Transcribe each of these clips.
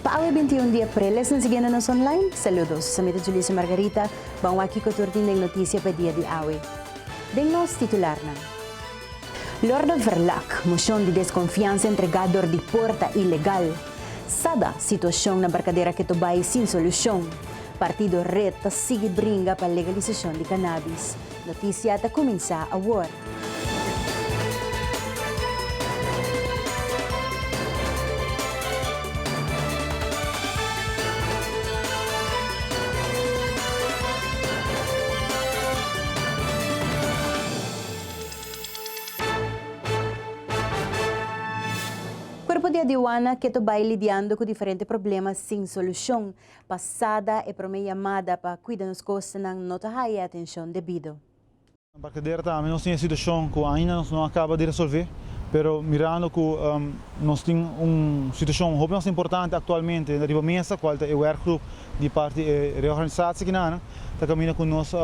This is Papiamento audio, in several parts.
Pa awe bintiun di aprel esnan siguiendo nos online. Saludos. Esami ta Julissa Margarita. Bo a wak kico tur tin den noticia pa e dia di awe den nos titularnan. Lorde Verlak, Mocion di desconfiansa entrega dor di porta ilegal. Sada, Situacion na Barcadera keto bay sin solucion. Partido Red ta sigui bringa pa legalisacion di cannabis. Notisia ta kuminsá awor. Cuerpo di Adiuana keto bai lidiando cu diferente problema sin solucion. Pasada e prome yamada pa kuida nos kostanan no ta haya e atenshon debido. Na Barkadera tambe nos tin e situashon ku ainda nos no a kaba di resolve, pero mirando ku nos tin un situashon hopi mas importante aktualmente riba mesa, kual ta e wèrkgrup di parti e reorganisatiekinan, ta kaminda ku nos,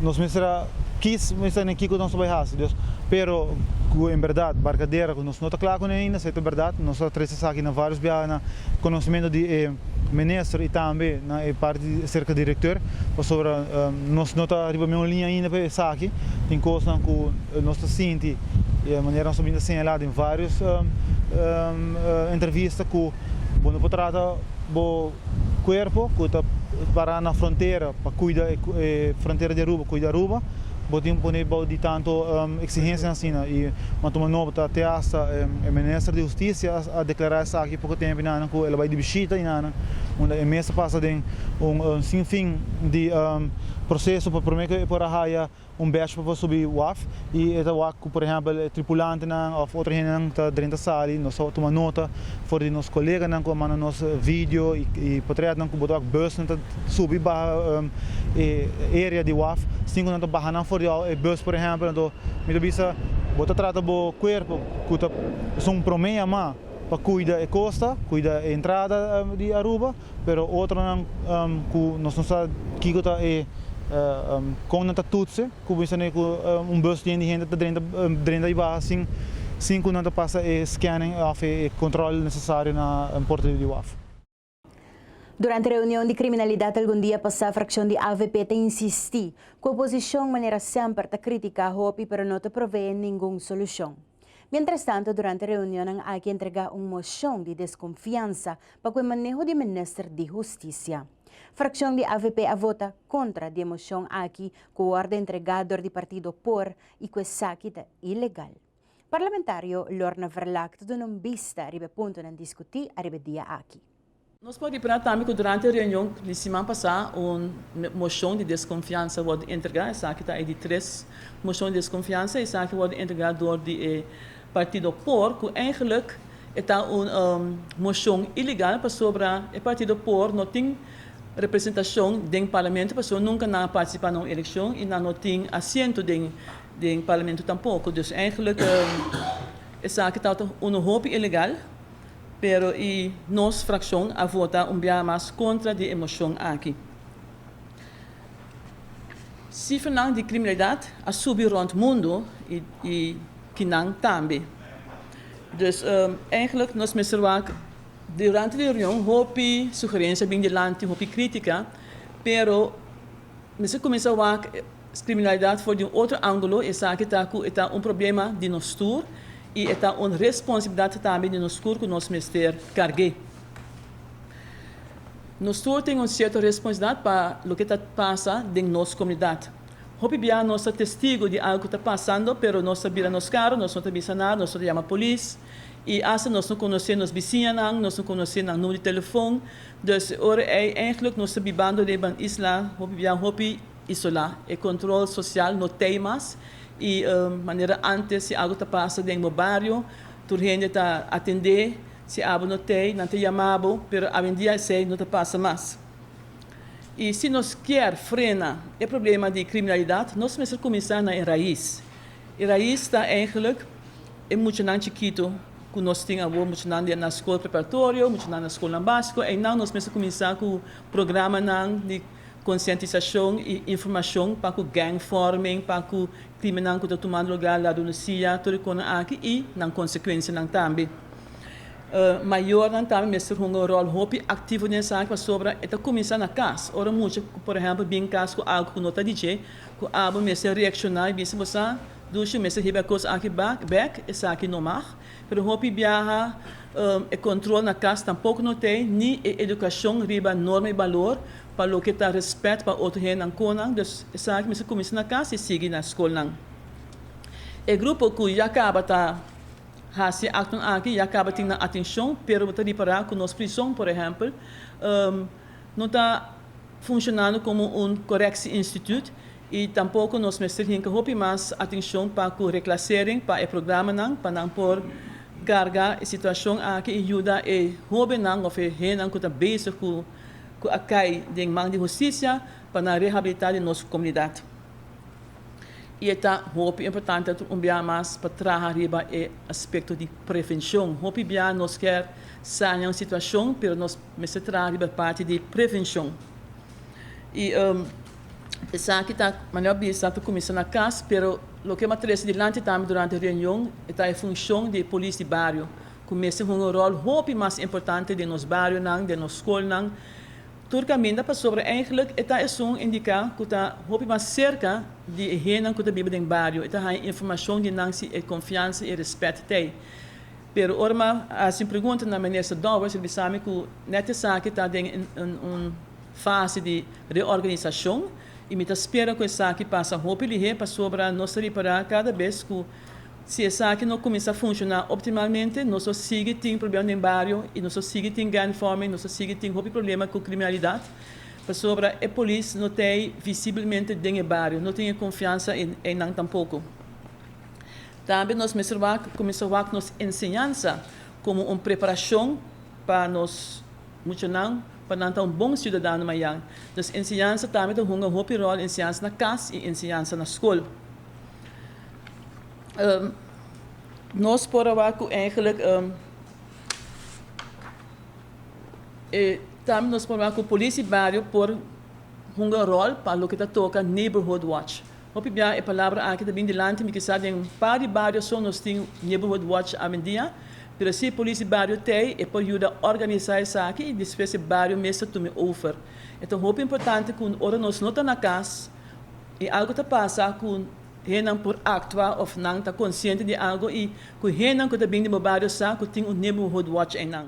nos mester a kis mester na kiko nos ta bai hasi Dios. Pero ku en bèrdat barkadera ku nos no ta kla kuné ainda si e ta bèrdat. Nos a trese esaki na vários biaha na konosementu di e minister i tambe na e parti aserka di rektor pasobra nos no ta riba mesun liña ainda pa esaki. Tin kosnan ku nos ta sinti di manera nos a bin ta señalá den vários entrevista ku bo no por trata bo. cuerpo cu ta para na frontera pa cuida e frontera di Aruba, cuida Aruba, bo tin pone bao di tanto exigencianan asina y Matumba Nobota te hasta e Minister di Husticia a declara esaki poco tempo y nanan cu el a bay di bishita y nanan unda e mes a pasa den un sinfin di proceso pa prome cu e por a haya Un bèsh pa por subi waf i e ta wak ku por ehèmpel e tripulantenan òf otro hendenan ta drenta sali. Nos ta tuma nota for di nos koleganan ku a manda nos video i potrètnan ku bo ta wak bùsnan ta subi i baha e area di waf. Sin ku nan ta baha nan for di e bùs por ehèmpel. Anto mi ta bisa bo ta trata bo kuerpo ku ta esun un promé yamá pa kuida e kosta, kuida e entrada di Aruba. pero otronan ku nos no sa kiko ta e kon nan ta tutse ku bo esane ku un bus yen di hende ta drenta drenta i baha sin sin ku nan ta pasa e scanning of e kontrol nesesario na porta di waf. Durante reunion di kriminalidat algun dia pasá frakshon di avp ta insistí ku oposishon manera semper ta kritiká hopi pero no ta proveé ningun solushon. Mientrastanto, durante reunionnan aki entregá un moshon di deskonfiansa pa ku e maneho di minister di hustisia. Frakshon di avp a vota kontra di e moshon aki ku wòrdu entregá dor di partido por i ku esaki ta ilegal. Parlamentario Lorna Verlaque ta duna un bista riba e puntonan diskutí ariba e dia aki. Nos por di pra tambe cu durante e reunion di siman pasá un moshon di desconfiansa wordo entregá. Esaki ta e di tres moshon di desconfiansa. Esaki wordo entregá door di e partido por, cu eigenlijk e ta un moshon ilegal pasobra e partido por no tin representacion den Parlamento pasobra nunca nan a participá na un eleccion y nan no tin asiento den Parlamento tampoco. Dus eigenlijk esaki ta un hopi ilegal Pero y nos fraccion a vota un biaha mas contra di e mocion aki. Cifernan di criminalidad a subi rond mundo y kinan tambe. Dus eigenlijk nos mester wak durante di reunion hopi sugerencia bin dilanti, hopi critica, pero mester cuminsa wak. Criminalidad for di un otro angulo esaki ta cu e ta un problema di nos tur y e ta un responsabilidad tambe di nos tur cu nos mester carge. Nos tur tin un cierto responsabilidad pa loke ta pasa den nos comunidad. Hopi bia nos ta testigo di algo cu ta pasando pero nos ta bira nos caro, nos no ta bisa nada, nos no ta yama polis y hasta nos no conoce nos bisiñanan, nos no conoce nan numero di telefoon. Dus e ora ey eigenlijk nos ta bibando riba un isla hopi bia hopi. Isola. E control social no t'ey mas y manera antes si algo ta pasa den bo bario tur hende ta atende, si abo no t'ey nan ta yama bo, pero awendia esey no ta pasa mas. Y si nos kier frena e problema di criminalidad nos mester cuminsa na e raiz. E raiz ta eigenlijk e muchanan chikito cu nos tin awo, muchanan di na school preparatorio, muchanan na schoolnan basico, eynan nos mester cuminsa cu programanan di. Konsientisashon i informashon pa ku gèng fòrmen, pa ku krimennan ku ta tuma drogá lado Lucia, tur e konan aki i nan konsekuensianan tambe. Mayornan tambe mester hunga un ròl hopi aktivo den esaki pasobra e ta kuminsá na kas. Ora mucha, por ehèmpel, bin kas ku algu ku no ta di dje, ku abo mester reakshoná i bisa bo sa, Lucia mester hiba e kos aki bèk, esaki no mag. Pero hopi biaha e control na cas tampoco no t'e, ni e educacion riba norma y balor pa loke ta respet pa otro hennan conan. Dus esaki mester cuminsa na cas y sigui na scolnan. E grupo cu ya caba ta haci actonan aki ya caba tin nan atencion, pero bo ta ripara cu nos prison, por ehempel, no ta funcionando como un correctie instituut Y tampoco nos mester hinca hopi mas atencion pa cu reclasering pa e programanan pa nan por carga e situacion aki y yuda e hobennan of e hennan cu ta bezig cu cu a cay den man di husticia pa nan rehabilita den nos comunidad. Y e ta hopi importante tur un bia mas pa traha riba e aspecto di prevencion. Hopi bia nos kier saña un situacion pero nos mester traha riba e parti di prevencion. Y. Esaki ta, manera a bisa, ta kuminsá na kas, pero loke bo a trese dilanti tambe durante reunion e ta e funshon di e polis di bario, ku mester hunga un ròl hopi mas importante den nos barionan, den nos skolnan, tur kaminda, pasobra eigentlik e ta esun indiká ku ta hopi mas serka di e hendenan ku ta biba den bario, e ta haña informashon di nan si e konfiansa, e rèspèt ta ei. Pero ora mi a hasi un pregunta na Minister Dowers, e bisa mi ku nèt esaki ta den un. Fase di reorganisashon i mi ta spera ku esaki pasa hopi lihé pasobra nos ta ripará kada bes ku si esaki no kuminsá funshoná optimalmente nos lo sigui tin problema den bario i nos lo sigui tin gang vorming, nos lo sigui tin hopi problema ku kriminalidat pasobra e polis no ta ei visibelmente den e bario, no tin e konfiansa ei nan tampoko. Tambe nos mester wak kuminsá wak nos enseñansa komo un preparashon pa nos. Muchonan, pa nan ta un bon siudadano mayan, nos enseñansa tambe ta hunga hopi ròl, enseñansa na kas i enseñansa na skol. Nos por a wak ku eigelijk e tambe nos por wak ku Polisie Bario por hunga ròl pa loke ta toka Neighborhood Watch. Hopi bia e palabra aki ta bin dilanti mi kisa den un par di barioson nos tin neighborhood watch awendia, pero si e polici bario t'ei e por yuda organisa esaki y despues e bario mes ta tumi over. E ta hopi importante cu ora nos no ta na cas y algo ta pasa cu hennan por actua of nan ta conciente di algo y cu hennan cu ta bin den bo bario sa cu tin un neighborhood watch einan.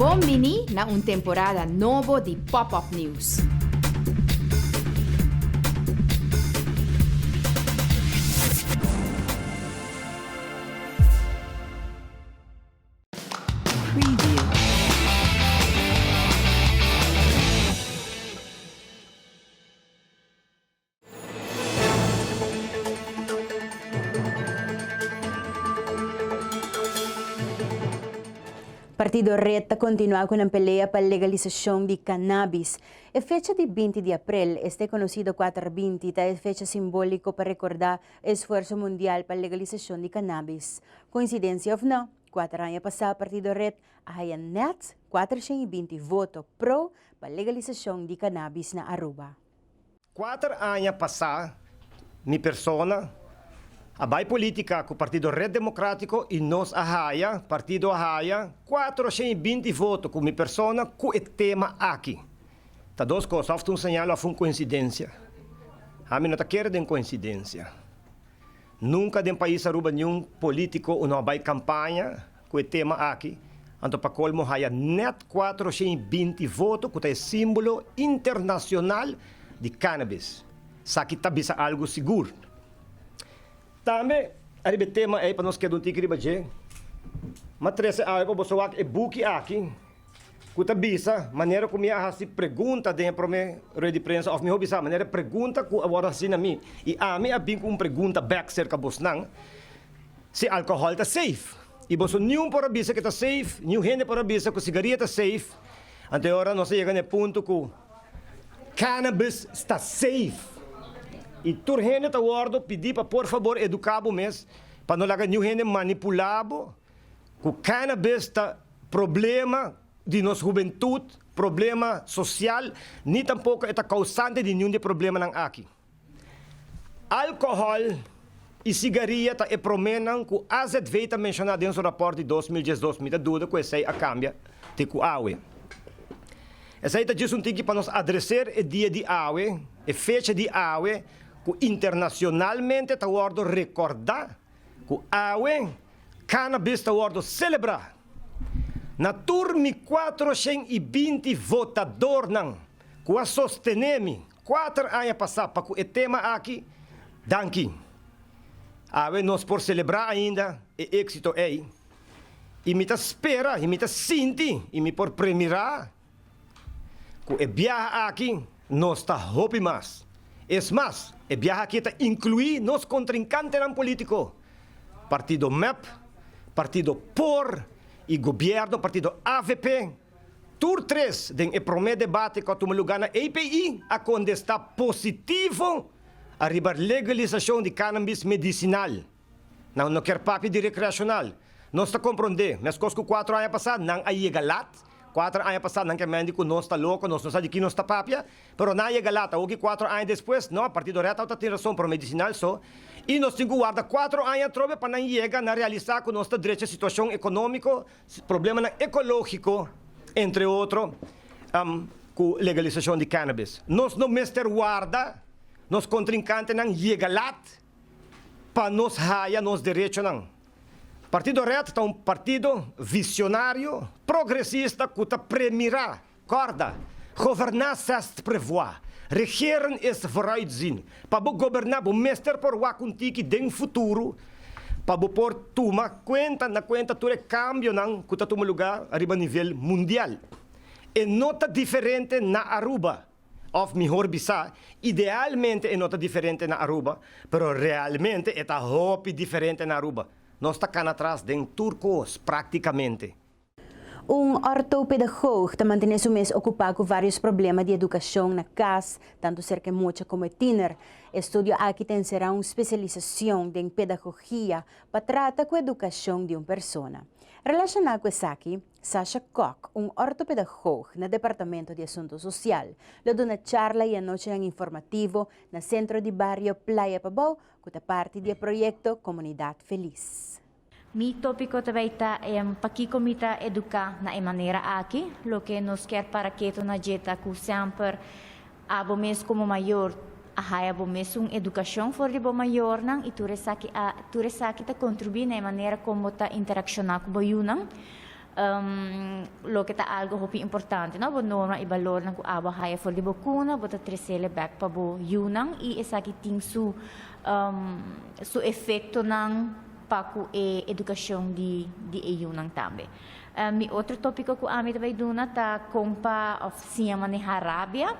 Bon bini na un temporada nobo di Pop-Up News! Partido Red ta kontinuá ku nan pelea pa legalisashon di kannabis. E fecha di binti di aprel, este konosido kuater binti, ta e fecha simbóliko pa rekordá e esfuerso mundial pa legalisashon di kannabis. Koinsidensia òf nò, kuater aña pasá Partido Red a haya nèt kuatershen i binti voto pro pa legalisashon di kannabis na Aruba. Kuater aña pasá mi persona a bai polítika ku partido Red Democrático i nos a haya, partido a haya, kuater oshen i binti voto ku mi persona ku e tema aki. Ta dos kos, òf ta un señal òf un koinsidensia. Ami no ta kere den koinsidensia. Nunka den pais Aruba niun polítiko no a bai kampaña Ku e tema aki, anto pa kolmo haya nèt kuater shen i binti voto ku ta e símbolo internashonal di kánabis. Saki ta bisa algu sigur. Tambe ariba e tema ei pa nos keda un tiki riba dje, m'a trese awe pa boso wak e buki aki ku ta bisa manera ku mi a hasi pregunta den e promé rueda di prensa òf mihó bisa manera e pregunta ku a wòrdu hasi na mi i ami a bin ku un pregunta bèk serka bosnan. Si alkohòl ta seif i boso niun por a bisa ku e ta seif, niun hende por a bisa ku sigaria ta seif, anto e ora nos a yega na e punto ku cannabis ta seif. I tur hende ta wòrdu pidi pa por fabor eduká bo mes pa no laga niun hende manipulá bo ku cannabis ta problema di nos hubentut, problema sosial, ni tampoko e ta kousante di niun di e problemanan aki. Alkohòl i sigaria ta e promènan ku AZV ta menshoná den su rapòrt di dos mil diesdos. Mi ta duda ku esei a kambia te ku awe. Esei ta djis un tiki pa nos adreser e dia di awe, e fecha di awe ku internashonalmente ta wòrdu rekòrdá ku awe cannabis ta wòrdu selebrá na tur mi kuatroshèn i binti votadornan ku a sostené mi. Kuater aña pasá pa ku e tema aki, danki. Awe nos por selebrá ainda e éksito ei i mi ta spera i mi ta sinti i mi por premirá ku e biaha aki nos ta hopi mas. Es mas, e biaha aki ta inkluí nos kontrinkantenan polítiko, partido mep, partido por i gobièrnu partido avp. Tur tres den e promé debate ku a tuma lugá na API a kondestá positivo ariba legalisashon di kanambis medisinal. Nan no kier papia di rekreashonal. Nos ta komprondé, meskos ku kuater aña pasá nan a yega lat. Kuater aña pasá nan ke mendi ku nos ta loko, nos no sa di ki nos ta papia, pero nan a yega lat. Awoki kuater aña despues, no, partido rèt awo ta tin rason, pero medisinal so. I nos tin ku warda kuater aña atrobe pa nan yega na realisá ku nos ta drecha situashon ekonómiko problemanan ekológiko, entre otro, ku legalisashon di kènabis. Nos no mester warda nos kontrinkantenan yega lat pa nos haya nos derechonan. Partido Red ta un partido visionario, progresista ku ta premirá Kòrda, goberná sest prevoá, regeren is vooruitzien, pa bo goberná bo mester por wak un tiki den futuro, pa bo por tuma kuenta na kuenta tur e kambionan ku ta tuma lugá ariba nivel mundial. E no ta diferente na Aruba, òf mihor bisá, idealmente e no ta diferente na Aruba, pero realmente e ta hopi diferente na Aruba. Nos ta kana tras den tur kos, práktikamente. Un ortopedagoog ta mantené su mes okupá ku vários problema di edukashon na kas, tantu serka e mocha komo e tiner. E studio aki ta enserá un spesialisashon den pedagogia pa trata ku edukashon di un persona. Relashoná ku esaki, Sasha Kok, un ortopedagoog na Departamento di Asunto Sosial, lo duna charla i anochinan informativo na Sentro di Bario Playa Pabou ku ta parti di e proyekto Komunidat Felis. Mi tópiko ta bay ta en pakiko mi ta eduká na e manera aki. Loke nos kier para keto na dje ta ku semper abo mes komo mayor a haya bo mes un edukashon for di bo mayornan i tur esaki a tur esaki ta kontribuí na e manera kon bo ta interakshona ku bo yunan. Loke ta algo hopi importante no bo norma i balornan ku abo a haya for di bo kuna bo ta tresele bek pa bo yunan i esaki tin su su efektonan pa ku e edukashon di di e yunan tambe. Mi otro topiko ku ami ta bai duna ta kon pa òf siña maneha rabia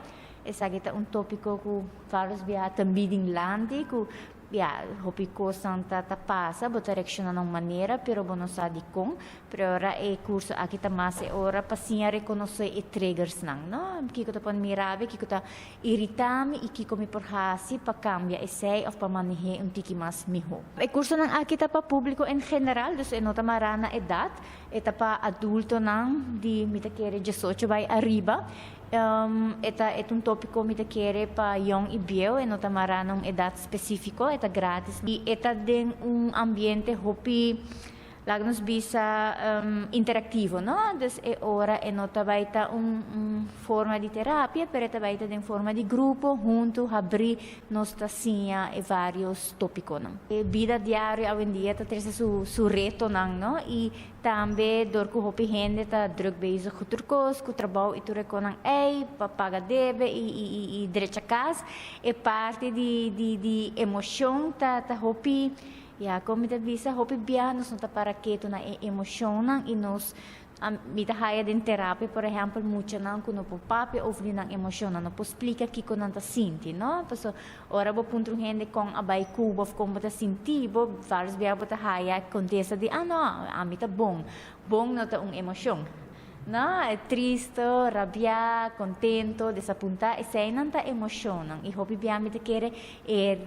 esaki ta un topiko ku Carlos Biaha ta midi nlanti ku Ya, hopi cosnan ta ta pasa, bo ta reacciona na un manera, pero bo no sa dicon, pero ahora e curso aki ta mas e ora pa siña reconoce e triggersnan, no? Kico ta pone mi rabia, kico ta irita mi y kico mi por haci pa cambia esey of pa manehe un tiki mas miho. E cursonan aki ta pa publico en general, dus e no ta mara na edad. E ta pa adultonan di mi ta kere diesocho bai ariba. E ta e ta un tópiko mi ta kere pa yon i bieu, e no ta mará na un edat spesífiko, e ta grátis i e ta den un ambiente hopi, laga nos bisa, interaktivo, no? Dus e ora e no ta bai ta un forma di terapia, pero e ta bai ta den forma di grupo, huntu, habrí nos ta siña e vários tópikonan. E bida diario awendia ta trese su retonan, no? I tambe dor ku hopi hende ta drùk bezig ku tur kos, ku trabou i tur e konan ei, pa paga debe i drecha kas, e parti di emoshon ta hopi, ya, kon mi ta bisa, hopi bia nos no ta para ketu na e emoshonnan i nos Mi ta haya den terapia, por ehèmpel, muchanan ku no por papia over di nan emoshonnan, no por splika kiko nan ta sinti, no? Pasobra ora bo puntra un hende kon a bai ku bo òf kon bo ta sinti, bo vários bia bo ta haya e kontesta di, Ah, no, ami ta bon. Bon no ta un emoshon, no? Tristu, rabiá, kontentu, desapuntá, eseinan ta emoshonnan. I hopi bia mi ta kere e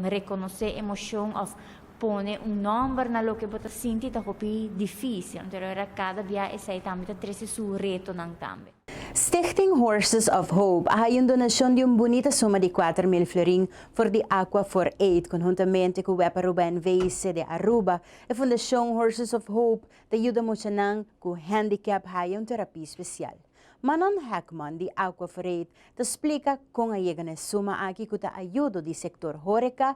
rekonosé emoshon òf Pone un nòmber na loke bo ta sinti ta hopi difísil. Anteriormente kada bia esei tambe ta trese su retonan tambe. Stichting Horses of Hope a haya un donashon di un bunita suma di kuater mil florin for di Aqua for Aid konhuntamente ku Wepa Aruba NVC de Aruba. E fundashon Horses of Hope ta yuda muchanan ku handicap haya un terapia spesial. Manon Heckman di Aqua for Aid ta splika kon a yega na e suma aki ku ta ayudo di sektor horeka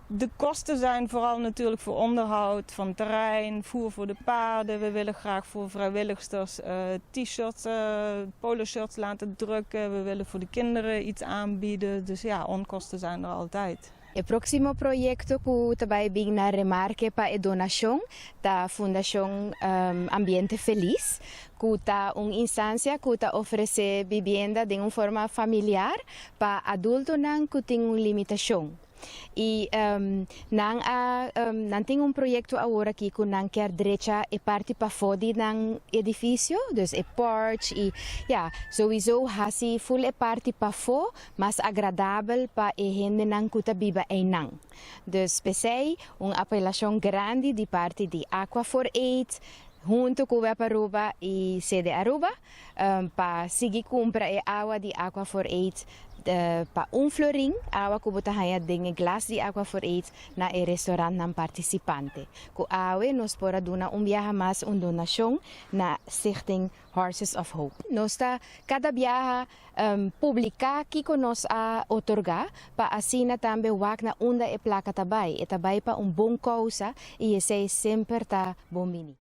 De kosten zijn vooral natuurlijk voor onderhoud van terrein, voer voor de paarden, we willen graag voor vrijwilligsters T-shirts, poloshirts laten drukken, we willen voor de kinderen iets aanbieden, dus ja, onkosten zijn er altijd. E próksimo proyekto ku ta bai bigna remarke pa e donashon ta Fundashon Ambiente Feliz, ku ta un instansia ku ta ofresé bibienda den un forma familiar pa adultonan ku tin un limitashon. y nan a nan tin un proyecto awor aki cu nan kier drecha e parti pafo di nan edificio dus e porch y ya sowiso haci full e parti pafo mas agradabel pa e hendenan cu ta biba eynan dus pesey un apelacion grandi di parti di Aqua for Aid hunto cu Web Aruba y Sede Aruba. pa sigui cumpra e awa di Aqua for Aid pa un florin, awa cu bo ta haya den e glas di Aqua for Aid na e restaurantnan participante. Cu awe nos por a duna un biaha mas un donacion na Stichting Horses of Hope. Nos ta cada biaha publica kico nos a otorga pa asina tambe wak na unda e placa ta bay. E ta bay pa un bon causa y esey semper ta bon bini.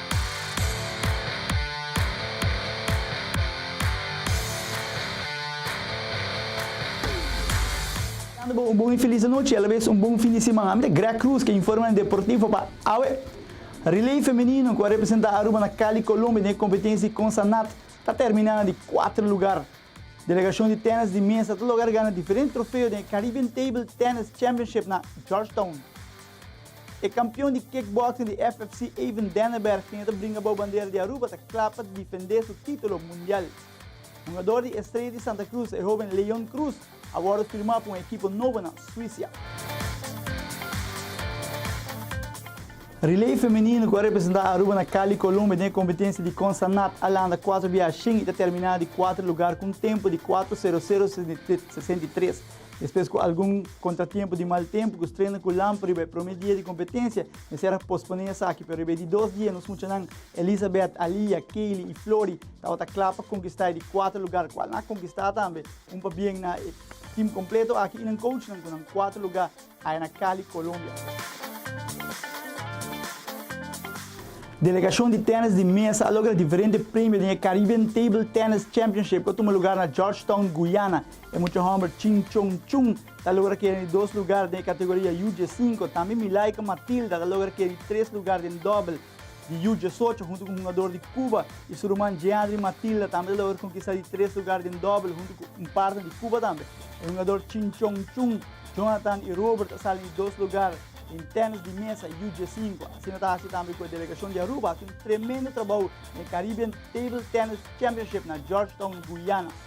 Deseando bo un bon y feliz anochi y a la vez un bon fin di siman. Ami ta Greg Cruz ke informa den Deportivo pa awe. Relay femenino ku a representa Aruba na Cali, Colombia den e kompetensi Consanat ta termina na di kuater lugar. Delegashon di tènis di mesa ta logra gana diferente trofeo den e Caribbean Table Tennis Championship na Georgetown. E kampion di kickboxing di FFC Avon Denneberg tin e ta bringa bou bandera di Aruba ta kla pa difendé su título mundial. Hungador di Estrella di Santa Cruz, e hóben Leon Cruz, a wòrdu firmá pa un ekipo nobo na Suisia. Relay femenino ku a representá Aruba na Cali, Colombia den e kompetensia di Consanat a landa kuater biaha shin i ta terminá di kuater lugar ku un tempu di kuater sero sero sesenta i tres. Despues ku algun kontratiempu di mal tempu ku strena ku lampa riba e prome dia di kompetensia, mester a posponé esaki. Pero riba e di dos dia nos muchanan Elizabeth, Alia, Kaylie i Flori tabata kla pa konkistá e di kuater lugar kual nan a konkistá tambe un pa bien na e tim kompleto aki i nan kouchnan ku nan kuater lugá. Aya na Cali, Colombia. Delegashon di tènis di mesa a logra diferente premio den e Caribbean Table Tennis Championship ku a tuma lugar na Georgetown, Guyana. E mucha hòmber Ching Chong Chung ta logra keda den dos lugar den e kategoria UJ5. Tambe Milaika Matilda ta logra keda di tres lugar den dòbel. di yu diesocho huntu ku hungador di Cuba i su ruman Jeandri Matilda tambe ta logra konkistá di tres lugar den dòbel huntu ku un parter di Cuba tambe. E hungador Chinchong Chun, Jonathan i Robert a sali di dos lugar den tènis di mesa yu diesinco. Asina ta hasi tambe ku e delegashon di Aruba hasi un tremendo trabou den e Caribbean Table Tennis Championship na Georgetown, Guyana.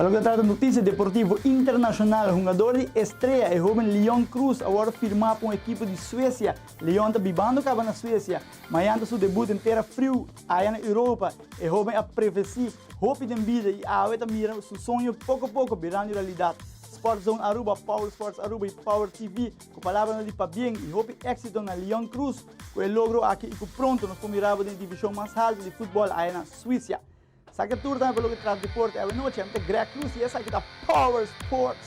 Pa loke ta trata notisia deportivo internashonal, hungador di Estrea, e hoben Leon Kroos, awor firmá pa un ekipo di Suesia. Leon ta bibando kaba na Suesia, ma ayan ta su debut den tera friu aya na Europa. E hoben a prefesí hopi den bida i awe ta mira su soño poko poko birando realidat. Sport Zone Aruba, Power Sports Aruba i Power TV. Ku palabranan di pabien i hopi éksito na Leon Cruz ku e logro aki i ku pronto nos por mirabo den e divishon mas haltu di futbòl aya na Suisia. Sa ke tur tambe pa loke tras deporte awe nochi. Ami ta Greg Cruz i esaki ta Power Sports.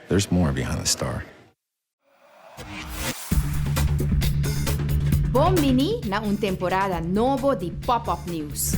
There's more behind the star. Bon bini na un temporada nobo di Pop Up News!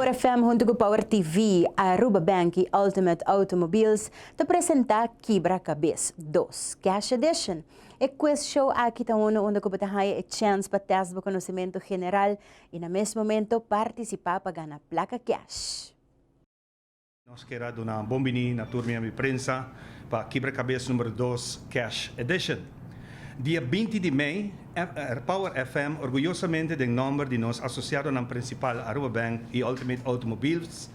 Power FM huntu ku Power TV, Aruba Bank i Ultimate Automobiles ta presentá Kibra Kabes dos, Cash Edition. E quiz show aki ta unu unda ku bo ta haña e chèns pa tèst bo konosementu general i na mes momento partisipá pa gana plaka kèsh. Nos ker a duna bon biní na tur miembro di prensa pa Kibrakabes Numero Dos Kèsh Edition. Dia binti di mei, Power FM orguyosamente den nòmber di nos asosiadonan prinsipal Aruba Bank i Ultimate Automobiles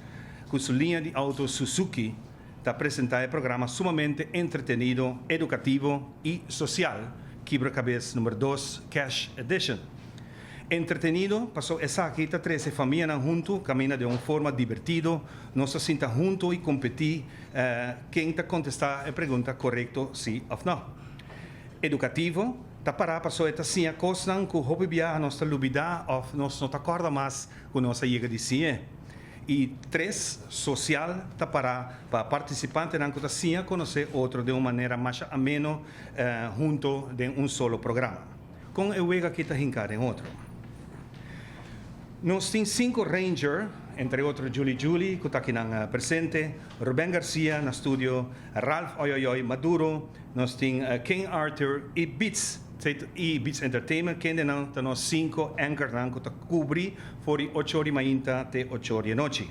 ku su liña di outo Suzuki ta presentá e programa sumamente entretenido, edukativo i sosial Kibrakabes Numero Dos Kèsh Edition. Entretenido, paso esaki ta trese famianan huntu caminda den un forma divertido, nos ta sinta huntu y competi ken ta contesta e pregunta corecto si of no. Educativo, ta para paso e ta siña cosnan cu hopi biaha nos ta lubida of nos no ta corda mas cu nos a yega di siñe. Y tres, social, ta para pa participantenan cu ta siña conoce otro den un manera masha ameno hunto den un solo programa. Kon e wega ki ta hinká den otro. Nos tin sinku Ranger, entre otro Juli Juli, ku ta akinan presente, Ruben Garcia na studio, Ralph Oyoyoy Maduro, nos tin King Arthur i Beats, i Beats Entertainment, kende nan ta nos sinku anchornan ku ta kubri for di ocho di mainta te ocho di e nochi.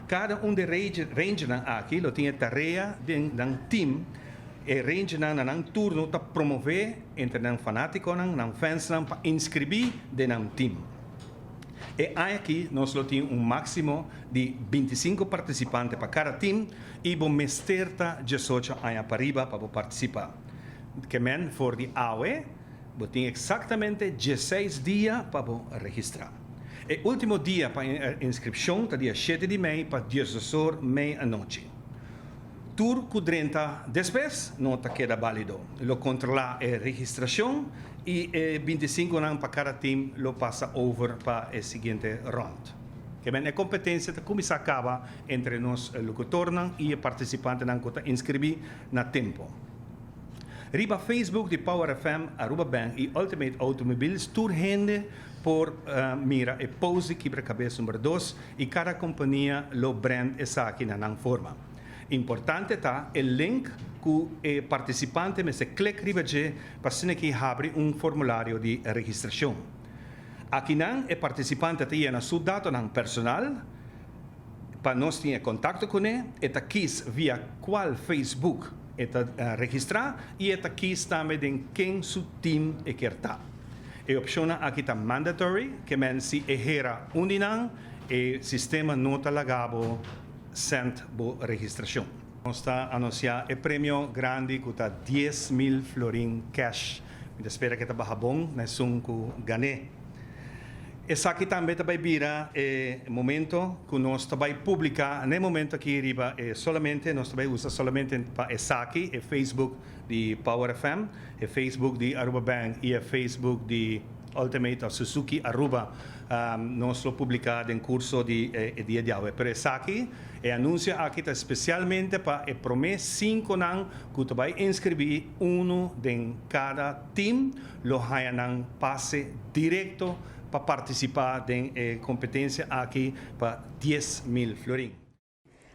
Kada un di e Rangernan aki lo tin e tarea den nan team, e Rangernan na nan turno ta promové, entre nan fanaticonan, nan fansnan pa inscribi den nan team. E aña aki nos lo tin un maximo di binti i sinku participante pa cada team y bo mester ta diesocho aña pariba pa bo participa. Kemen for di awe bo tin exactamente dieseis dia pa bo registra. E ultimo dia pa inscripcion ta dia shete di mei pa diesdos or mei anochi. Tur cu drenta despues no ta keda balido. Lo controla e registracion y e binti sinku nan pa cada team lo pasa over pa e siguiente rond. Kebien e competencia ta cuminsa caba entre nos locutornan y e participantenan cu ta inscribi na tempo. Riba Facebook di Power FM, Aruba Bank y Ultimate Automobiles tur hende por mira e post di Kibracabes number dos y cada compania lo brand esaki na nan forma. Importante ta e link cu e participante mester click riba dje pa asina ki habri un formulario di registracion. Akinan e participante ta yena su datonan personal pa nos tin e contacto cune, e ta kies via cual Facebook e ta registra y e ta kies tambe den ken su team e kier ta. E opcionnan aki ta mandatory, ke men si e hera un di nan, e sistema no ta lagabo cent bo registracion. Nos ta anuncia e premio grandi cu ta dies mil florin cash. Mi ta spera ke ta baha bon na esun cu gané. Esaki tambe ta bay bira e momento cu nos ta bay publica, na e momento aki riba, e solamente nos ta bay usa solamente pa esaki e Facebook. di Power FM, e Facebook di Aruba Bank y e Facebook di Ultimate of Suzuki Aruba nos lo publica den curso di e dia di awe. Pero esaki, e anuncio aki ta especialmente pa e prome cinconan cu ta bay inscribi, uno den cada team lo haya nan pase directo pa participa den e competencia aki pa dies mil florin.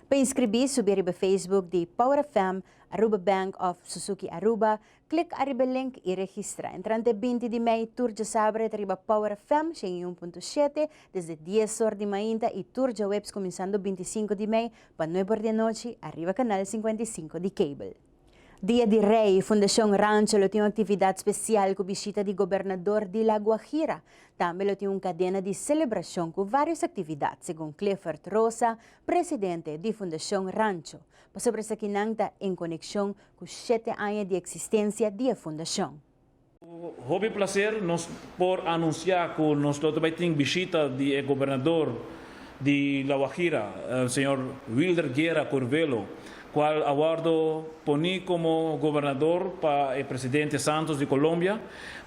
Pa inskribí subi riba Facebook di Power FM, Aruba Bank of Suzuki Aruba, klik ariba e link i registra. Entrante binti di mei tur djasabre ta riba Power FM shen i un punto shete desde dies or di mainta i tur djaweps kuminsando binti i sinku di mei pa nuebe or di anochi ariba kanal sinkuenta i sinku di cable. Dia di Rey, Fundacion Rancho lo tin un actividad special cu bishita di Gobernador di La Guajira. Tambe lo tin un cadena di celebracion cu varios actividad, segun Clifford Rosa, Presidente di Fundacion Rancho. Pasobra esakinan ta en conexion cu shete aña di existencia di e fundacion. Ku hopi plaser nos por anunsiá ku nos lo ta bai tin bishita di e gobernador di La Guajira, señor Wilder Guerra Curvelo, kual a wòrdu poní komo gobernador pa e presidente Santos di Colombia,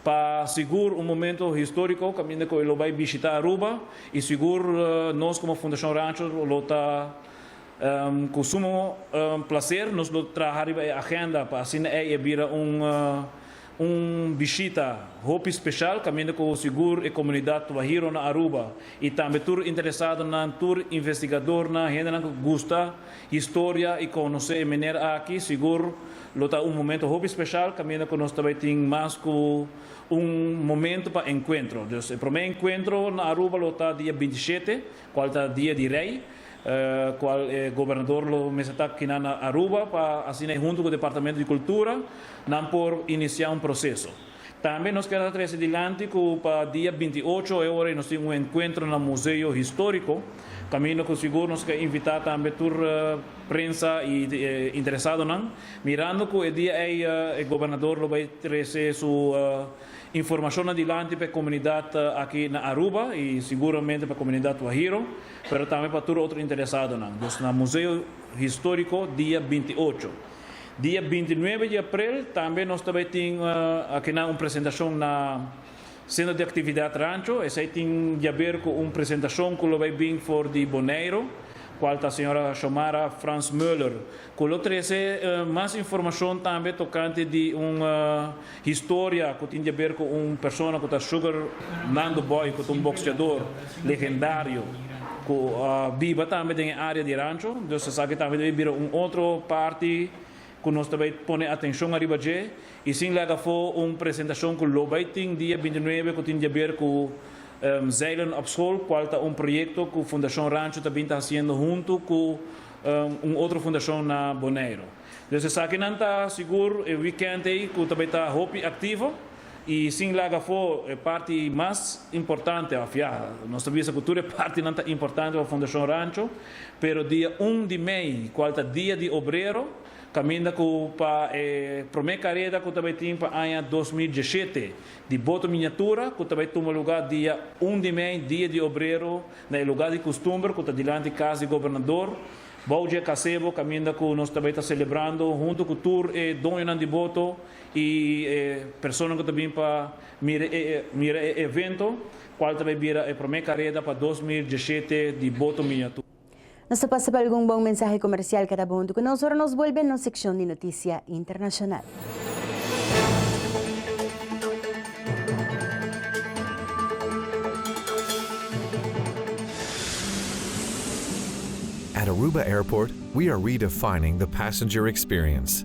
pa sigur un momento históriko kaminda ku e lo bai bishitá Aruba i sigur nos komo Fundashon Rancho lo ta Ku sumo plaser nos lo traha riba e agenda pa asina ei a bira un bishita hopi speshal kaminda ku sigur e komunidat Twahiro na Aruba i tambe tur interesadonan, tur investigadornan, hendenan ku gusta historia i konosé e miner aki sigur lo ta un momento hopi speshal kaminda ku nos ta bai tin mas ku un momento pa enkuentro. Dus e promé enkuentro na Aruba lo ta dia binti shete. Cual ta dia di rey, cual e gobernador lo mester ta kina na Aruba pa asina e hunto cu departamento di cultura nan por inicia un proceso. Tambe nos keda trece dilanti cu pa dia binti i ocho e ora y nos tin un encuentro na Museo Historico, caminda cu sigur nos ke invita tambe tur prensa y interesadonan, mirando cu e dia ey e gobernador lo bay trece su. Informacion adilanti pa e comunidad aki na Aruba y seguramente pa comunidad Guajiro, pero tambe pa tur otro interesadonan. Dus na Museo Historico dia binti ocho. Dia binti nuebe di aprel tambe nos ta bay tin akinan un presentacion na Centro di Actividad Rancho. Esey tin yaber cu un presentacion cu lo bay bin for di Boneiru, cual ta señora Shomara Frans-Muller, Cu lo trece mas informacion tambe tocante di un historia cu tin diaber cu un persona cu ta Sugar Nando Boy cu ta un boxeador legendario cu a biba tambe den e area di e rancho. Dus esaki tambe ta bay bira un otro parti cu nos ta bay pone atencion ariba dje. Y sin laga afo un presentacion cu lo bay tin dia binti nuebe cu tin diaber cu Zeilen op School, cual ta un proyecto cu Fundacion Rancho ta bin ta haciendo hunto cu. un otro fundacion na Boneiru. Dus esakinan ta sigur e weekend ei cu ta bay ta hopi activo y sin laga afo e parti mas importante, of ya, nos ta bisa cu tur e partinan ta importante pa Fundacion Rancho, pero dia un di mei, cual ta Dia di Obrero, caminda cu pa e prome careda cu ta bay tin pa aña dos mil diesete di boto miniatura cu ta bay tuma lugar dia un di mei, Dia di Obrero, Na e lugá di kustumber ku ta dilanti kas di gobernador, bou dje kasebo kaminda ku nos ta bai ta selebrando huntu ku tur e doñonan di boto i e personanan ku ta bin pa mira e mira e evento, kual ta bai bira e promé kareda pa dos mil diesshete di Boto Mia. Nos ta pasa pa algun bon mensahe komersial kada bo huntu ku nos ora nos bolbe nos sekshon di notisia internashonal. At Aruba Airport we are redefining the passenger experience.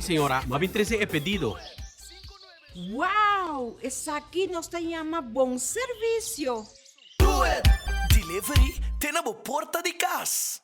Señora, bo a bin trece e pedido. Wow! Esaki nos ta yama bon servicio! Do it! Delivery te na bo porta di cas!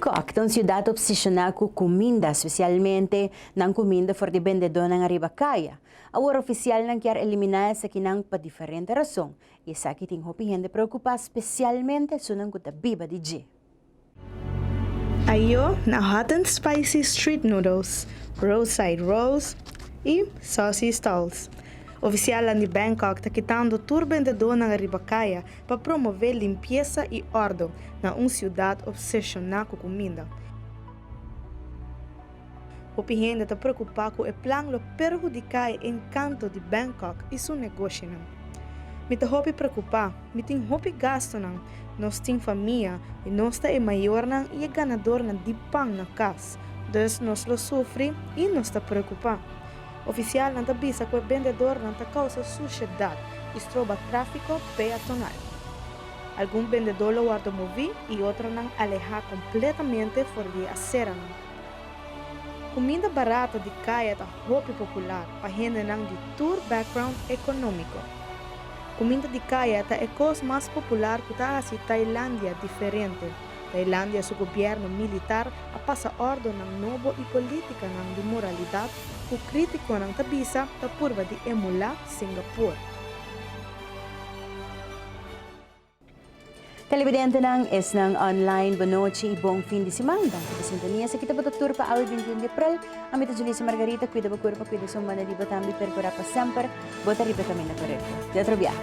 Bangkok ta un siudat opseshoná ku kuminda, spesialmente nan kuminda for di bendedónan ariba kaya. Awor ofisialnan kier eliminá esakinan pa diferente rason, i esaki tin hopi hende preokupá spesialmente esunnan ku ta biba di dje. Ayo na Hot and Spicy Street Noodles, Roadside Rolls i Saucy Stalls, ofisialnan di Bangkok ta kitando tur bendedónan riba kaya pa promové limpiesa i òrdu na un siudat opseshoná ku kuminda. Hopi hende ta preokupá ku e plan lo perhudiká e enkanto di Bangkok i su negoshinan. Mi ta hopi preokupá, mi tin hopi gastunan, nos tin famia i nos ta e mayornan i e ganadornan di pan na kas, dus nos lo sufri i nos ta preokupá. Ofisialnan ta bisa ku e bendedornan ta kousa sushedat i stroba tráfiko peatonal. Algun bendedó lo wòrdu moví i otronan alehá kompletamente for di e aseranan. Kuminda barato di kaya ta hopi popular pa hendenan di tur background ekonómiko. Kuminda di kaya ta e kos mas popular ku ta hasi Tailandia diferente. Tailandia su gobièrnu militar a pasa òrdonan nobo i polítikanan di moralidat ku krítikonan ta bisa ta purba di emulá Singapur. Televidentenan, esnan online, bo nochi i bon fin di siman. Danki pa sintonia. Esaki ta bo ta tur pa awe binti un di aprel. Ami ta Julissa Margarita. Kuida bo kurpa, kuida esun banda di bo tambe i perkurá pa semper bo ta riba e kaminda korekto. Di otro biaha.